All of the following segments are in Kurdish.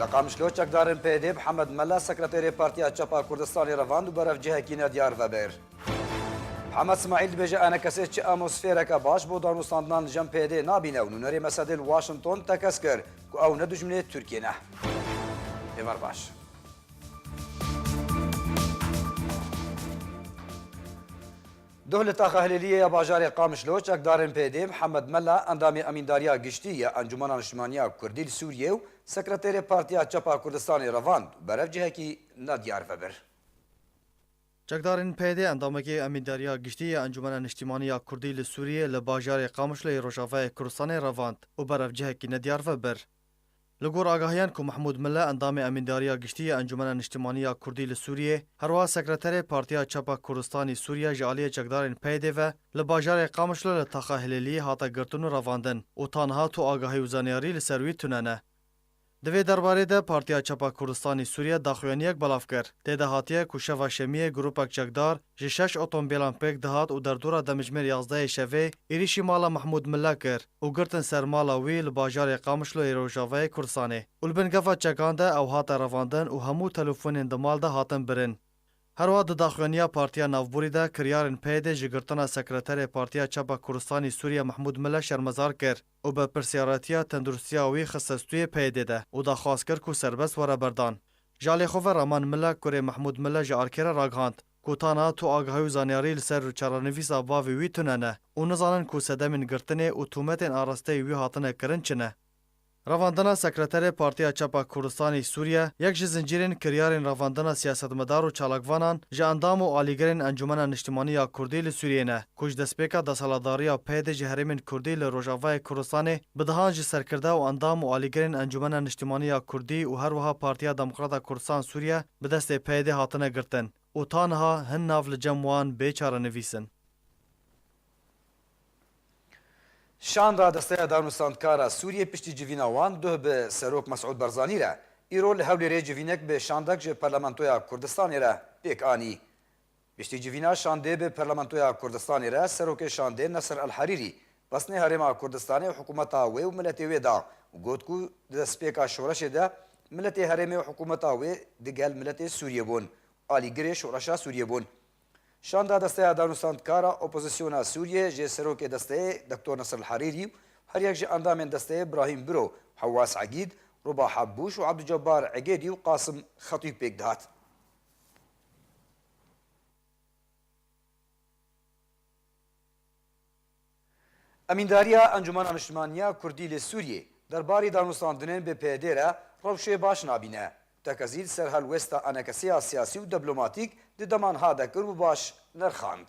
Li Qamişlo çekdarên PYD'ê bi Hemed Mela sekreterê Partiya Çap a Kurdistanê re van û berevcihekî ne diyar ve bêr. Hemed Smaîl dibêje enekesê çi amosfêreke baş bo danûstandinan li cem PYD'ê nabîne û nûnerê mesedê li Washington tekez kir ku ew ne dijminê Tirkiyê ne. Êvar baş. Duh li Taxa Hilêliyê ya bajarê Qamişlo çekdarên PD, Mihemed Mela endamê Emîndariya Giştî ya Encûmena Niştimaniya Kurdî li Sûriyê û Sekreterê Partiya Çepa Kurdistanê revand û berev cihekî ne diyar ve bir. Çekdarên PD endamekî Emîndariya Giştî ya Encûmena Niştimaniya Kurdî li Sûriyê li bajarê Qamişloyê Rojavayê Kurdistanê revand û berev cihekî ne diyar ve bir. Li gor agahiyan ku Mehmûd Mile endamê Emîndariya Giştî ya Encûmena Niştimanî ya Kurdî li Sûriyê, herwiha sekreterê Partiya Çapa Kurdistanî Sûriya ji aliyê çekdarên PYDê ve li bajarê Qamişlo li Taxa Hilêliyê hate girtin û revandin û ta niha tu agahî û zanyarî li ser wî tune ne. Di vê derbarê de Partiya Çapa Kurdistanî Sûriya daxuyaniyek belav kir. Tê de hatiye ku şeva Şemiyê grûpek çekdar, Ji şeş otomobîlan pêk dihat û derdora demijmêr yazdeyê şevê êrîşî mala Mehmûd Milla kir û girtin ser mala wî li bajarê Qamişloyê rojavayê Kurdistanê û li bin gefa çekan de ew hate revandin û hemû telefonên di mal de hatin birin. Herwiha di daxuyaniya Partiya Navborî de kiryarên PYD'ê ji girtina Sekreterê Partiya Çapa Kurdistanî Sûriye Mehmûd Milla şermezar kir. û bi pirsyaretiya tendurustiya wî xiste stûyê PYD'ê de û daxwaz kir ku serbest were berdan. Ji alê xwe ve Raman Mile, kurê Mehmûd Mile ji erkê re ragihand ku tana tu agahî û zaniyarî li ser çarenivîsa bavê wî tune ne û nizanin ku sedemên girtinê û tûmetên arasteyî wî hatine kirin çi ne. Revandina Sekreterê Partiya Çapa Kurdistanê Sûriye yek ji zincîrên kiryarên revandina siyasetmedar û çalakvanan ji endam û alîgirên Encûmena Niştimanî ya Kurdî li Sûriyê ne. ku ji destpêka desalatdariya pey de ji herêmên kurdî li Rojavayê Kurdistanê bi dehan jî serkirde û endam û alîgirên Encûmena Niştîmanî ya Kurdî û her wiha Partiya Demokrata Kurdistan Sûriye bi destê PYDê hatine girtin û ta niha hin nav li cem wan bê çarenivîs in. Şan Radesteya Danûstandkar a Sûriyê piştî civîna wan duh bi Serok Mesûd Barzanî re îro li Hewlêrê civînek bi şandek ji Parlamentoya Kurdistanê re pêk anî. Piştî civîna şandê bi Parlamentoya Kurdistanê re Serokê Şandê Nasser Al Harîrî xwestinê Herêma Kurdistanê û hikûmeta wê û miletê wê da û got ku di destpêka şoreşê de miletê herêmê û hikûmeta wê di gel miletê Sûriyê bûn û alîgirê şoreşa Sûriyê bûn. Şanda Desteya Danûstandkara Opozisyona Sûriyê jê Serokê Desteyê Doktor Nasser Al Harîrî û her yek ji endamên desteyê Brahîm Biro, Hewas Egîd, Ruba Habbûş û Abdûcebar Egêdî û Qasim Xetîb pêk dihat. Emîndariya Encûmena Niştimanî ya Kurdî li Sûriyê derbarê danûstandinên bi PYDê re rewşê baş nabîne. Tekez îl ser helwesta enekesiya siyasî û deblomatîk di dema niha dekir û baş nirxand.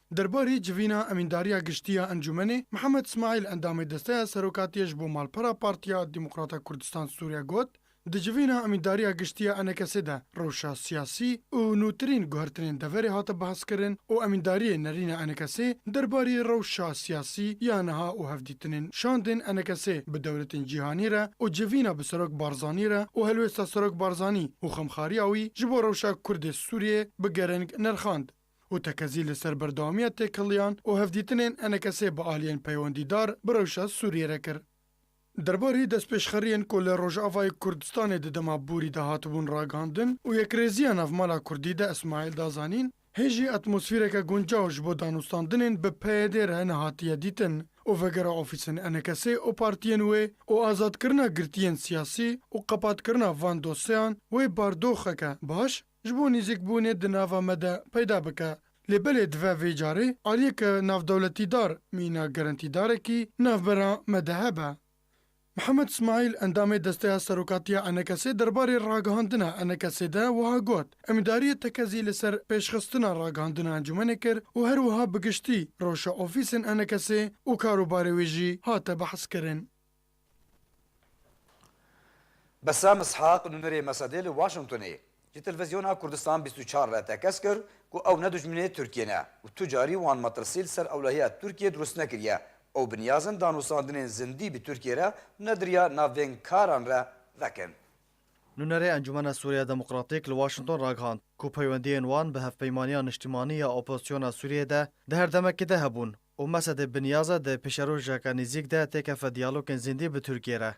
Derbarê civîna Emîndariya Giştî ya Encûmenê, Mihemed Smaîl endamê Desteya Serokatiyê ji bo Malpera Partiya Demokrata Kurdistan Sûrîye got, Di civîna Emîndariya Giştî ya Enekesê de rewşa siyasî û nûtirîn guhertinên deverê hate behskirin û Emîndariyê Nerîna Enekesê derbarê rewşa siyasî ya niha û hevdîtinên şandên Enekesê bi dewletên cîhanî re û civîna bi Serok Barzanî re û helwêsta Serok Barzanî û xemxariya wî ji bo rewşa Kurdê Sûrîyê bi gereng nerxand. û tekezî li ser berdewamiya têkiliyan û hevdîtinên enekeşê bi aliyên peywendîdar bi rewşa Sûriyê re kir. Derbarê destpêşxeriyên ku li Rojavayê Kurdistanê di dema borî de hatibûn ragihandin û yekrêziya navmala Kurdî de Îsmaîl da zanîn, Hê jî atmosfîreke guncaw ji bo danûstandinên bi PYD re nehatiye dîtin û vegera ofîsên enekeşê û partiyên wê û azadkirina girtiyên siyasî û qepatkirina van dosyeyan wê bardoxeke baş Ji bo nêzîkbûnê di nava me de peyda bike. Lê belê dive vê carê aliyeke navdewletîdar mîna gerentîdarekî navbera me de hebe. Mihemed Smaîl endamê Desteya Serokatiya Enekesê derbarê ragihandina Enekesê de wiha got, Emîdariyê tekezî li ser pêşxistina ragihandina encûmenê kir û her wiha bi giştî rewşa ofîsên Enekesê û karûbarê wê jî hate behskirin. Besem Ishaq nûnerê Mesedê li Washingtonê ji Telvizyona Kurdistan bîst û çar re tekez kir ku ew ne dijminê Tirkiyê ne û tu carî wan metirsî li ser ewlehiya Tirkiyê dirust nekiriye û bi niyaz in danûsandinên zindî bi Tirkiyê re nediriya navên karan re vekin. Nûnerê Encûmena Sûriya Demokratîk li Washington ragihand ku peywendiyên wan bi hevpeymaniya niştimanî ya opozisyona Sûriyê de di her demekê de hebûn û Mesedê Binyaze di pêşerojeka nêzîk de têkefe diyalogên zindî bi Tirkiyê re.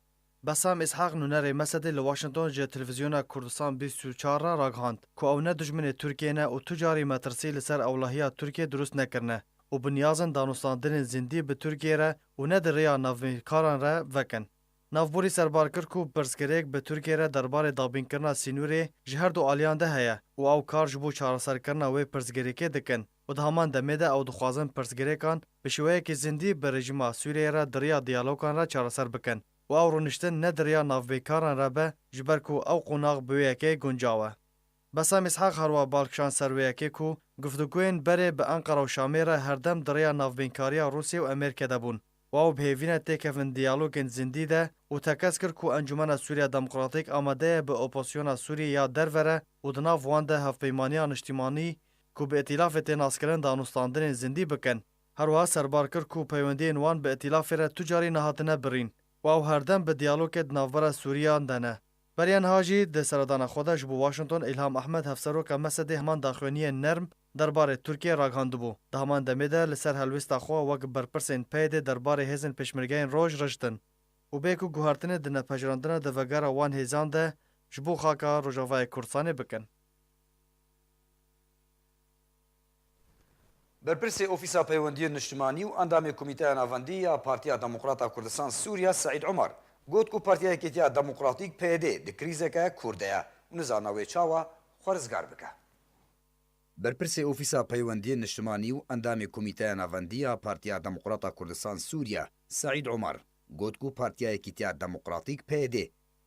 Bessam Îshaq nûnerê Mesedê li Washington ji Televîzyona Kurdistan bîst û çar re ragihand ku ew ne dijminê Tirkiyê ne û tu carî metirsî li ser ewlehiya Tirkiyê dirust nekirine û bi niyazin danûstandinên zindî bi Tirkiyê re û ne di rêya navnîkaran re vekin. Navborî serbar kir ku pirsgirêk bi Tirkiyê re derbarê dabînkirina sînûrê ji herdu aliyan de heye û ew kar ji bo çareserkirina wê pirsgirêkê dikin. û di heman demê de ew dixwazin pirsgirêkan bi şêweyekî zindî bi rejîma Sûriyeyê re di riya diyalokan re çareser bikin û ew rûniştin ne di riya navbeykaran re be ji ber ku ew qonax bi wê yekê guncaw e. Besam Îshak her wiha bal kişand ser wê yekê ku guftugûyên berê bi Enqera û Şamê re herdem di riya navbeynkariya Rûsyê û Amerîkê de bûn û ew bi hêvîne têkevin diyalogên zindî de û tekez kir ku Encûmena Sûriya Demokratîk amade ye bi oposyona Sûrî ya derve re û di nav wan de Hevpeymaniya Niştîmanî ku bi îtîlafê tê naskirin danûstandinên zindî bikin. Herwiha serbar kir ku peywendiyên wan bi îtîlafê re tu carî nehatine birîn û ew herdem bi diyalogê di navbera Sûriyan de ne. Beriya niha jî di seredana xwe de ji bo Washington Îlham Ehmed Hevseroka Mesedê heman daxuyaniyên nerm derbarê Tirkiyê ragihandibû. Di heman demê de li ser helwêsta xwe wek berpirsên PYDê derbarê hêzên pêşmergeyên roj riştin û bê ku guhertinê di nepejirandina devegera wan hêzan de ji bo xaka Rojavayê Kurdistanê bikin. Berpirsê Ofîsa Peywendiyên Niştimanî û Endamê Komîteya Navendî ya Partiya Demokrata Kurdistan Sûriya Seîd Umar got ku Partiya Yekêtiya Demokratîk, PYD, di krîzeke kûr de ye û nizana wê çawa xwe rizgar bike. Berpirsê Ofîsa Peywendiyên Niştimanî û Endamê Komîteya Navendî ya Partiya Demokrata Kurdistan Sûriya Seîd Umar got ku Partiya Yekîtiya Demokratîk, PYD,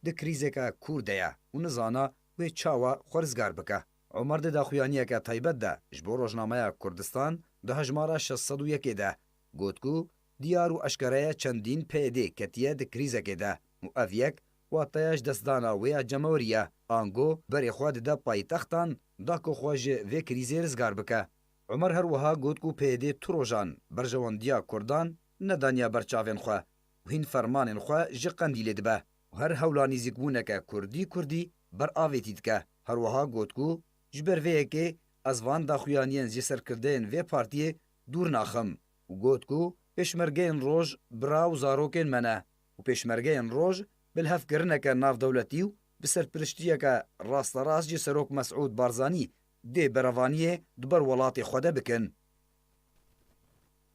di krîzeke kûr de ye û nizana wê çawa xwe rizgar bike. Omer di daxuyaniyeke taybet de ji bo rojnameya Kurdistan di hejmara şeş sed û yekê de got ku diyar û eşkere ye çendîn PYD ketiye di krîzekê de û ev yek wateya ji dest dana wê ya cemewrî ye ango berê xwe dide paytextan da ku xwe ji vê krîzê rizgar bike. Omer her wiha got ku PYD tu rojan berjewendiya Kurdan nedaniye ber çavên xwe û hîn fermanên xwe ji Qendîlê dibe. Her hewla nîzîkbûneke kurdî kurdî ber avêtî dike. Her wiha got ku ji ber vê yekê ez van daxuyaniyên ji serkirdeyên vê partiyê dûr naxim û got ku pêşmergeyên roj bira û zarokên me ne û pêşmergeyên roj bilhevkirineke navdewletî û bi serpiriştiyeke rasterast ji Serok Mesûd Barzanî dê berevaniyê di ber welatê xwe de bikin.